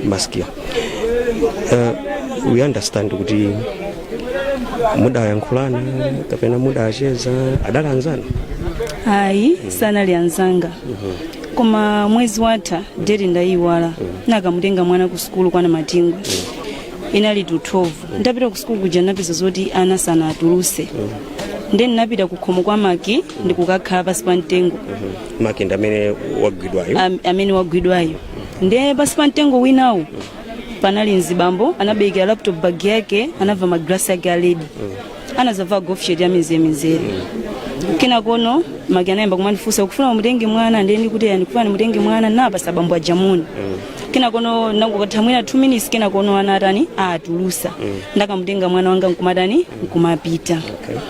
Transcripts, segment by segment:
maskia we understand kuti mudayankhulana kapena mudawacheza adali anzanu ayi sanali anzanga koma mwezi watha deti ndayiwala nakamutenga mwana ku sukulu kwana matingo inali to 12 ndapita ku sukulu kuja napeza zoti ana sanatuluse nde ndinapita ku khomo kwa maki ndikukakhala pasi pa mtengo maki ndi amene wagwidwayo am- amene wagwidwayo ndiye pasi pa mtengo winawo panali mzibambo anabekera laptop bag yake anavala magalasi yake aledi anazavala golf shirt ya mizere mizere kenakono maki anayamba kumandifunsa ukufuna mutenge mwana ndiye ndikuti yani kufuna ndimutenge mwana napasa bambo aja moni kenakono nangokatha mwina 2 minutes kenakono ana atani atulusa ndakamutenga mwana wanga nkumatani nkumapita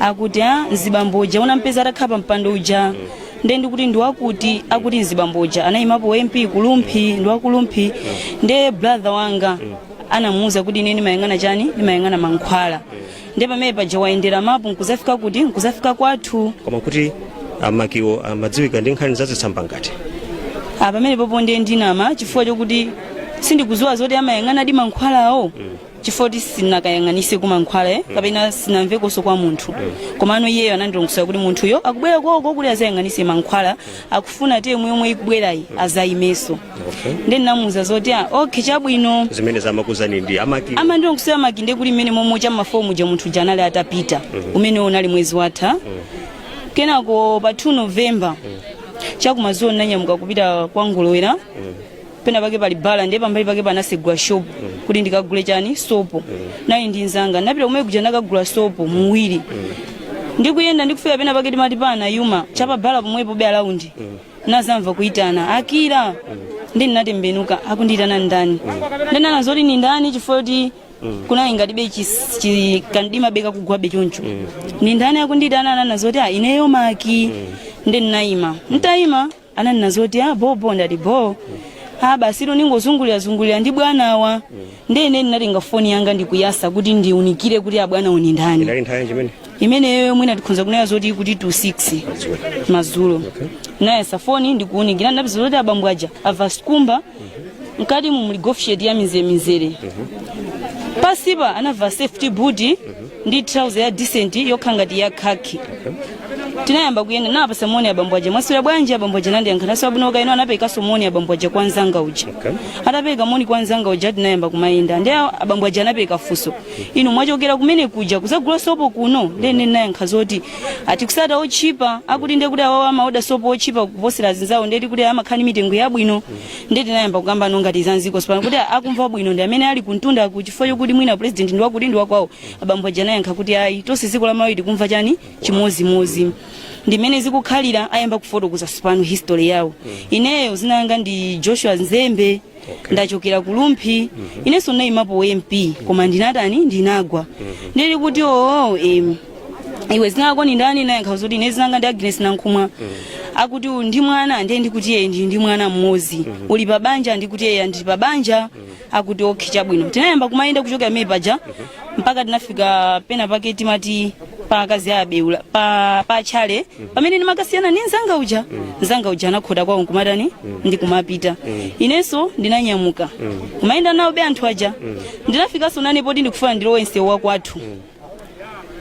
akuti mzibambo uja unampeza atakhala pa mpando uja nde ndikuti ndiwakuti akuti mzibambo uja anayimapo mp kulumphi ndiwakulumphi nde brother wanga anamuwuza kuti ine ndimayang'ana chani ndimayang'ana mankhwala nde pamene paja wayendera mapu nkuzafika kuti nkuzafika kwathu koma kuti amakiwo amadziwika ndi nkhani zazitsamba ngati apa pamenepopo ndiye ndinama chifukwa chokuti sindikuziwa zoti amayang'anadi mankhwalawo chifoti sinakayang'anise kumankhwala kapena sinamvekonso kwa munthu komano iyeyo anandilongosola kuti munthuyo akubwera koko kuti azayang'anise mankhwala akufuna term yomwe ikubwerayi azayimeso okay. nde ndinamuuza zoti ah, okay chabwino zimene ndamakuuzani ndi amaki amandilongosola maki nde kuti mmene m'mamwetsa ma phone muja munthu uja anali atapita umene unali mwezi watha kenako pa 2 novemba chakumazulo ndinanyamuka kupita kwa ngolowera pena pake pali bala ndiye pambali pake anasegula shop kuti ndikagule chani sopo nali ndi nzanga napita kumene kuja nakagula sopo muwili ndikuyenda ndikufika pena pake timati pana yuma chapa bala pomwepo be around nazamva kuitana akira nde ndinatembenuka akundiyitana ndani ndinanena zoti ni ndani chifukwa choti kunali ngatibe chis- chi- kamdima be kakugwabe choncho ni ndani akundiyitana ananena zoti a ineyo maki nde ndinayima ntayima ananena zoti a bobo ndati bo a basitu ndingozungulirazungulira ndi bwanawa ndiye ine ndinatenga foni yanga ndikuyasa kuti ndiunikire kuti abwanawo ni ndani inali nthawi yanji imene imeneyo mwina tikhonza kunena zoti kuti to 6 madzulo nayasa foni ndikuunikira ndinapeza zoti abambo aja avala sikumba mkati mu muli golf shirt ya mizeremizere pasipa anavala safety boot ndi trouser ya decent yokhala ngati ya khaki tinayamba kuyenda napasa moni abambo aja mwaswera bwanji abambo aja nandiyankha naswera bwino kaya inu anaperekaso moni abambo aja kwa nzanga uja atapereka moni kwa nzanga uja tinayamba kumayenda ndi awo abambo aja anapereka funso inu mwachokera kumene kuja kuzagula sopo kuno ndene nayankha zoti ati kusata otchipa akuti ndekuti awawo amaoda sopo otchipa kuposera azinzawo ndeti kuti amakhala ndi mitengo yabwino ndeti nayamba kukamba no ngati za dziko sipano kuti akumva bwino ndi amene ali kuntundaku chifukwa chokuti mwina president ndi wakuti ndi wakwawo abambo aja anayankha kuti ayi tonse dziko la malawi tikumva chani chimodzimodzi ndi mmene zikukhalira ayamba kufotokoza sipano history yawo ineyo zinanga ndi joshua nzembe ndachokera ku lumphi inenso ndinayimapo mp koma ndinatani ndinagwa ndili kuti oo em, iwe zinako ni ndani nayankha zoti ine zinanga ndi agnes nankhumwa akuti ndi mwana ndiye ndikuti eye ndi ndi mwana mmodzi uli pa banja ndikuti eye ndili pa banja akuti okhe chabwino tinayamba kumayenda kuchokera mmene paja mpaka tinafika pena pake timati pa akazi a abeula pa, pa chale pamene ndimakasiyana ni nzanga uja nzanga uja anakhota kwawo nkumatani ndikumapita inenso ndinanyamuka kumayenda nawobe anthu aja ndinafikanso nane poti ndikufuna ndilowe msewu wakwathu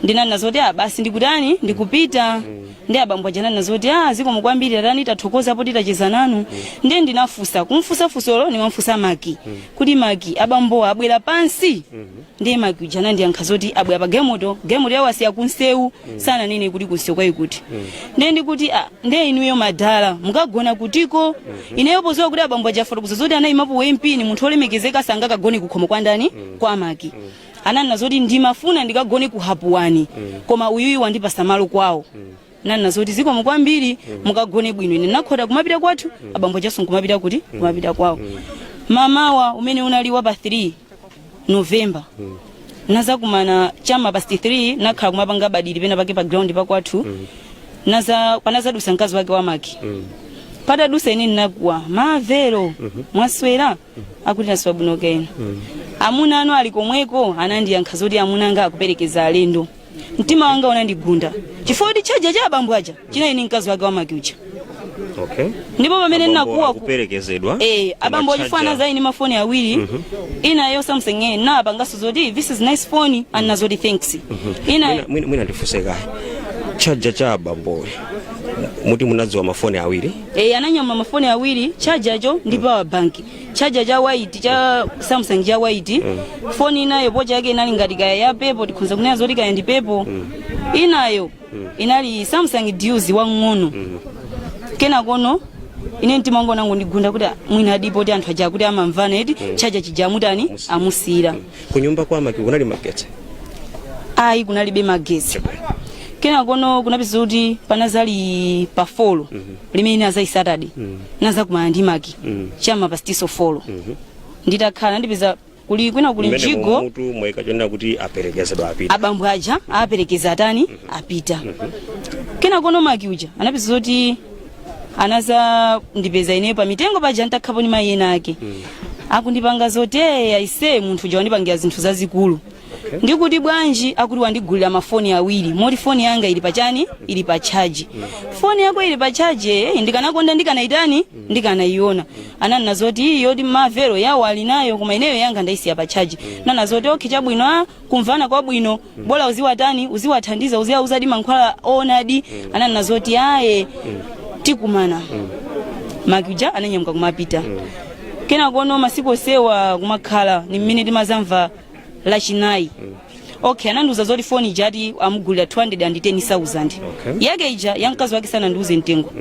ndinanena zoti ah basi ndikutani ndikupita ndi abambo aja ananena zoti ah zikomo kwambiri tatani tathokoza poti tacheza nanu ndiye ndinafusa kumfusa fusolo nimamfusa maki kuti maki abambowa abwera pansi ndiye maki uja anandiyankha zoti abwera pa galimoto galimoto yawo asiya kunsewu sananene kuti kunsewu kwake kuti ndiye ndikuti "Ah, ndiye inuyo madala mukagona kutiko ineyo poziwa kuti abambo aja afotokoza zoti anayimapo mp ni munthu olemekezeka sangakagone kukhomo kwa ndani kwa maki ananena zoti ndimafuna ndikagone ku hapuwani koma uyuyu wandipasa malo kwawo nanena zoti zikomo kwambiri mukagone bwino ine nakhota kumapita kwathu abambo ajaso nkumapita kuti kumapita kwawo mamawa umene unali wa pa 3 novemba nazakumana cha ma past 3 nakhala kumapanga badiri pena pake pa ground pakwathu naza panazadusa mkazi wake wa maki patadusa ine ndinakuwa mavero mwaswera akuti naswera bwino kaya inu amuna anu ali komweko anandiyankha zoti amuna anga akuperekeza alendo mtima wanga unandigunda chifukwa kuti chaja cha abambo aja chinali ndi mkazi wake wa maki uja okay ndipo pamene Abambo ndinakuwa ku- akuperekezedwa Eh, koma abambo charger- ochifanana zayi ni mafoni awiri inayo samsung eh, napangaso zoti this is nice phone anena zoti thanks ina Mwina- mwina mwina ndifunse kaye chaja cha abamboyo muti munadziwa mafoni awiri e, ananyamula mafoni awiri chajacho ndi power bank chaja cha white cha samsung cha white foni inayo pocha yake inali ngati kaya ya pepo tikhonza kunena zoti kaya ndi pepo inayo inali samsung duos wang'ono kenakono ine mtima wangu unangondigunda kuti "Ah, mwinadi poti anthu aja kuti amamvana eti chaja chija amutani amusiyira kunyumba kwa Maki kunali magetsi ayi kunalibe magetsi kenakono unapeza kuti panazali pa folo limene inazali Saturday nazakumana ndi maki cha m'ma past folo nditakhala ndipeza kuli kwina kuli Mmene mjigo mutu mwaika chonena kuti aperekezedwa apita abambo aja aperekeza atani apita kenakono maki uja anapeza kuti anazandipeza ineyo pa mitengo paja ntakhala ni mayi ena ake akundipanga zoti eya ise munthu uja wandipangira zinthu zazikulu ndikuti bwanji akuti wandigulira mafoni awiri moti foni yanga ili pa chani ili pa chaji foni yako ili pa chaji eh, ndikanakonda ndikanaitani ndikanayiona ananena zoti iyi yoti mavero yawo ali nayo koma ineyo yanga ndaisiya pa chaji nnanena zoti okhe chabwino a kumvana kwabwino bola uziwatani uziwathandiza uziwauzadi mankhwala owonadi ananena zoti aye tikumana Maki uja ananyamuka kumapita kenakono masiku osewa kumakhala ni mmene timazamva lachinayi okay anandiuza zoti foni ija ati amugulira 210,000 Okay. yake ija ya mkazi wake sanandiuze mtengo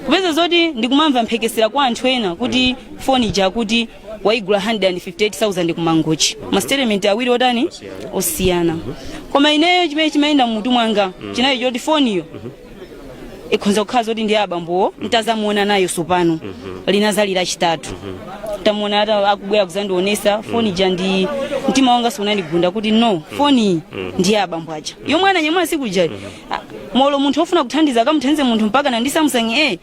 kupeza zoti ndikumamva mphekesera kwa anthu ena kuti foni ija kuti waigula 158,000 ku Mangochi mastatement awiri otani osiyana koma ineyo chimene chimayenda mmutu mwanga chinali choti foniyo ikhonza kukhala zoti ndi ya abambowo ntazamuona nayo sopano linazali lachitatu tamuona ata akubwera kuzandionesa foni ja ndi mtima wanga unandigunda kuti no foni ndi ya abambo aja yomwe ananyamula sikuja molo munthu ofuna kuthandiza akamuthandize munthu mpakana ndi Samsung a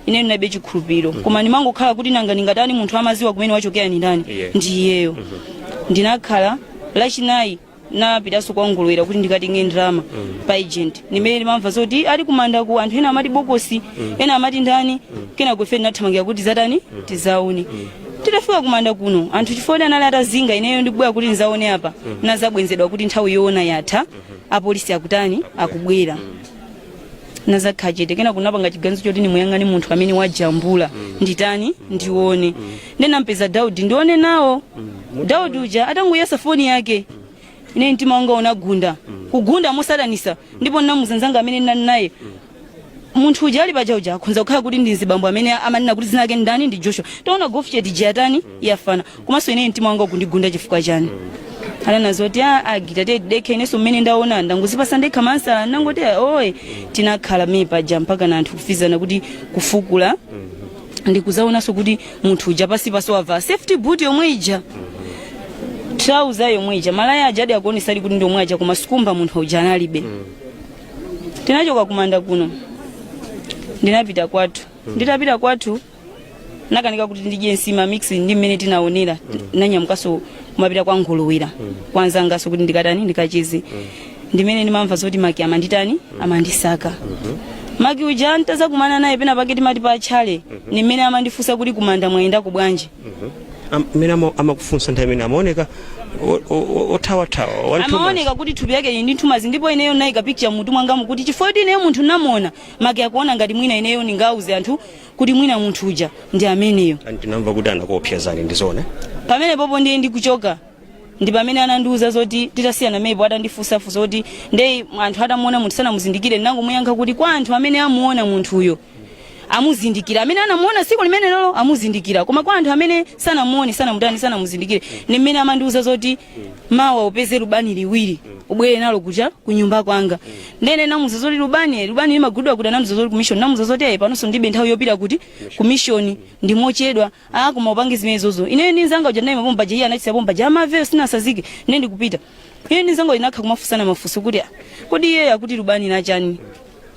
ine ndinalibe chikhulupiriro mm -hmm. koma ndimangokhala kuti nanga ndingatani munthu amaziwa kumene wachokera ni ndani yeah. ndi iyeyo mm -hmm. ndinakhala lachinayi napitanso kwa Ngolowera kuti ndikatenge ndalama mm -hmm. pa agent ndimene ndimamva zoti ali kumanda ku anthu ena amati bokosi mm -hmm. ena amati ndani mm -hmm. kenako ife ndinathamangira kuti tizatani mm -hmm. tizaone mm -hmm. titafika kumanda kuno anthu chifukwa anali atazinga ineyo ndibwera kuti ndizaone apa mm -hmm. nnazabwenzedwa kuti nthawi yoona yatha mm -hmm. apolisi akutani akubwera mm -hmm. nnazakhala chete kenako nnapanga chiganizo choti nimuyang'ane munthu amene wajambula nditani ndione ndinampeza Daudi ndione nawo Daudi uja atangoyesa foni yake ine mtima wanga unagunda kugunda modanisa ndipo ndinamuuza nzanga amene ndinali naye munthu uja ali paja uja akhonza kukhala kuti ndi mzibambo amene amanena kuti zina lake ndani ndi Joshua taona gofisheti ija yatani yafana komanso ineyo mtima wanga ukundigunda chifukwa chani ananena zoti a agita te dekhe ineso mmene ndaona ndangozipasa ndekha mansala ndangoti oye tinakhala mii paja mpakana anthu kufunsana kuti kufukula ndikuzaonanso kuti munthu uja pasi pasi wava safety boot yomwe ija trouser yomwe ija malaya ajadi akuonesa ali kuti ndi omwe aja koma chikumba munthu uja analibe tinachoka kumanda kuno ndinapita kwathu nditapita kwathu nakanika kuti ndidye nsima mix ndi mmene tinaonera nanyamukanso kumapita kwa nguluwira kwanzanganso kuti ndikatani ndikacheze ndi mmene ndimamva zoti maki amanditani amandisaka maki uja ntazakumana naye pena pake timati pa tchale ni mmene amandifunsa kuti kumanda mwayendako bwanji Am- mmene ama- amakufunsa nthawi imene amaoneka o- o- o- othawathawa wanthumazi amaoneka kuti thupi yake ili ndi nthumazi ndipo ineyo nayika picture mutu mwangamu kuti chifukwa choti ineyo munthu namuona maki akuona ngati mwina ineyo ndingauze anthu kuti mwina munthu uja ndi ameneyo And tinamva kuti anakuopsezani ndi zoona pamenepopo ndiye ndikuchoka ndi pamene anandiuza zoti titasiyana mepo atandifunsafunsa kuti nde anthu atamuona munthu sanamuzindikire ndinangomuyankha kuti kwa anthu amene amuona munthuyo amuzindikira amene anamuona tsiku limenelolo amuzindikira koma kwa anthu amene sanamuone sanamutani sanamuzindikire ndi mmene amandiuza zoti mawa upeze lubani liwiri ubwere nalo kuja ku nyumba kwanga ndene namuza zoti lubani eh, lubani limagulidwa kuti nanena zoti kumishoni namuza zoti ayi panonso ndibe nthawi yopita kuti kumishoni ndi mochedwa a koma upange zimenezozo ineyo ndi nzanga uja naye mapomba iye anachisa pomba ja amakeyo sinasazike ine ndikupita iye ndi nzanga tinakha kumafunsana mafunso kuti "Ah, kodi iyeyo akuti lubani ndi la chani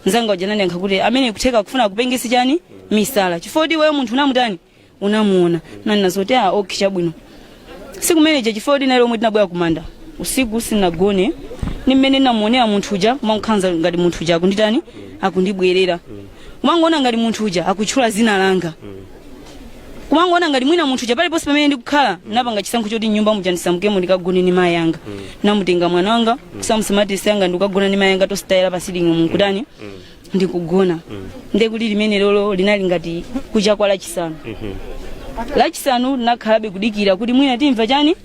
nzanga uja nandiyankha kuti amene kutheka akufuna kupengesa chani misala chifukwa choti iweyo munthu unamutani unamuona nanena zoti a ok chabwino siku limenelija chifukwa choti ndi lomwe tinabwera kumanda usiku sinagone ni mmene namuonera munthu uja kumankha za ngati munthu uja akunditani akundibwerera kumangoona ngati munthu uja akutchula zina langa kumangoona ngati mwina munthu uja paliponse pamene ndikukhala napanga chisankho choti nyumba muja ndisamukemo ndikagone ni mayi anga namutenga mwana wanga kusamusa matiresi anga ndikukagona ni mayi anga tositayira pa sitting room kutani ndikugona nde tsiku limenelolo linali ngati kucha kwa lachisanu lachisanu nakhalabe kudikira kuti mwina timva chani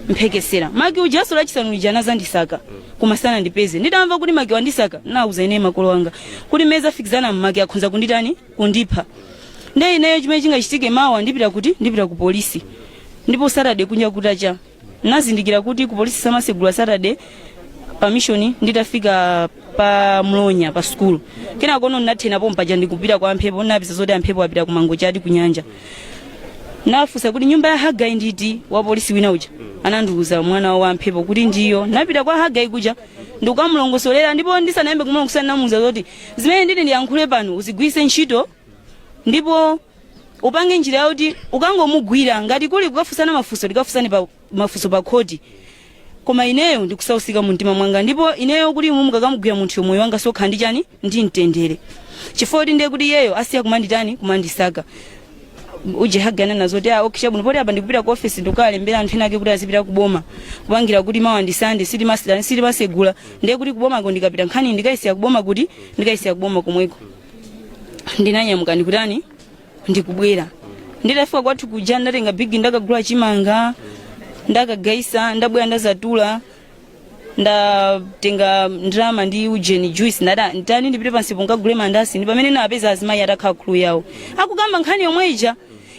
mphekesera maki ujaso lachisanu lija anazandisaka koma sanandipeze nditamva kuti maki wandisaka nauza ine makolo anga kuti mmene zafikiza maki akhonza kunditani kundipha nde ineyo chimene chingachitike mawa ndipita kuti ndipita ku polisi ndipo saturday kunja kutacha nazindikira kuti ku polisi samasegula saturday pamishoni nditafika pa mlonya pa sukulu kenakono ndinathera pompaja ndikupita kwa amphepo napeza zoti amphepo apita kumangochi ati kunyanja nafunsa kuti nyumba ya hagai ndi iti wa polisi wina uja anandiuza mwana wawo amphepo kuti ndi iyo napita kwa hagai kuja ndikukamulongosolera ndipo ndisanayambe kumulongosolera namuuza zoti zimene nditi ndiyankhule pano uzigwiritse ntchito ndipo upange njira yoti ukangomugwira ngati kuli kukafunsana mafunso tikafunsane pa mafunso pa khoti koma ineyo ndikusausika mu mtima mwanga ndipo ineyo kuti inu mukakamugwira munthu moyo wanga uzakha ndi chani ndi mtendere chifukwa choti ndiye kuti iyeyo asiya kumanditani kumandisaka uje hagai nanena zoti ah, okay chabwino poti apa ndikupita ku office ndikukalembera anthu ena ake kuti azipita ku boma kupangira kuti mawa ndi sande silimatani silimasegula ndiye kuti ku bomako ndikapita nkhani ndikayisiya ku boma kuti ndikayisiya ku boma komweko ndinanyamuka ndikutani ndikubwera nditafika kwathu kuja ndatenga bigi ndakagula chimanga ndakagayitsa ndabwera ndadzatula ndatenga ndalama ndi ujeni juice ndati nditani ndipite pansi po nkagule mandasi ndi pamene napeza azimayi atakhala khuli yawo akukamba nkhani yomwe ija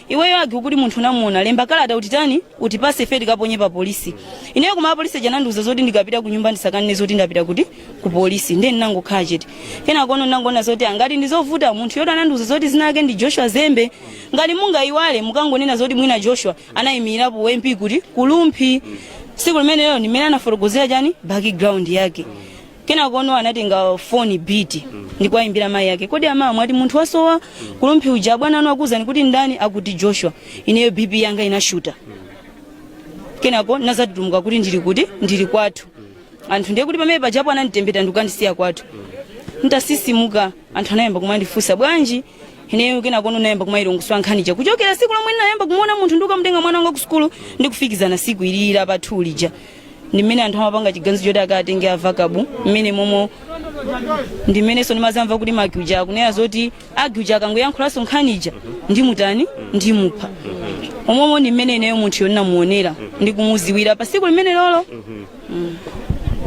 iweyo agi ukuti munthu unamuona lemba kalata utitani utipase ife tikaponye pa polisi ineyo koma apolisi aja anandiuza zoti ndikapita kunyumba ndisakanene zoti ndapita kuti ku polisi ndiye ndinangokhala chete kenakono ndinangoona zoti ngati ndizovuta munthu woti anandiuza zoti dzina lake ndi joshua zembe ngati mungayiwale mukangonena zoti mwina joshua anayimirapo wa mp kuti kulumphi tsiku limenelo ndimene anafotokozera chani background yake kenakono anatenga foni biti ndi kuwayimbira mayi ake kodi ama mwati munthu wasowa kulumphi uja abwana anu akuwuzani kuti ndani akuti joshua ineyo bp yanga inashuta kenako ndinadzatutumuka kuti ndili kuti ndili kwathu anthu ndiye kuti pamene pajapo ananditembeta ndikukandisiya kwathu nditatsitsimuka anthu anayamba kumandifunsa bwanji ineyo kenako nayamba kumayilongosola nkhani ija kuchokera tsiku lomwe ndinayamba kumuona munthu ndikukamutenga mwana wanga ku sukulu ndikufikizana tsiku ili la lachitatu lija ndi mmene anthu amapanga chiganizo choti akatenge avakabu mmene momo ndi mmenenso ndimadzamva kuti magi uja akunena zoti agi uja akangoyankhulanso nkhanija ndimutani ndimupha umomo ndi mmene ineyo munthuyo ndinamuonera ndi kumudziwira pa tsiku limenelolo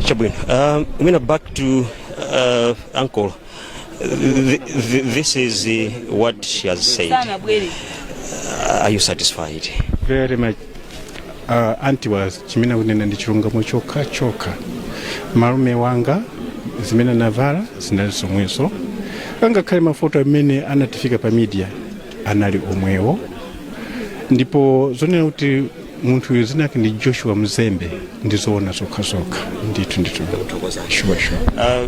chabwino um, mwina back to uh, ankolo Th- th- this is uh, what she has said. Are you satisfied? very much uh, anti awa chimene akunena ndi chilungamo chokha chokha malume wanga zimene anavala zinali zomwezo angakhale mafoto amene anatifika pa media anali omwewo ndipo zonena kuti munthu uyu dzina lake ndi joshua mzembe ndizoona zokha zokha ndithu ndithu sure, sure. Uh,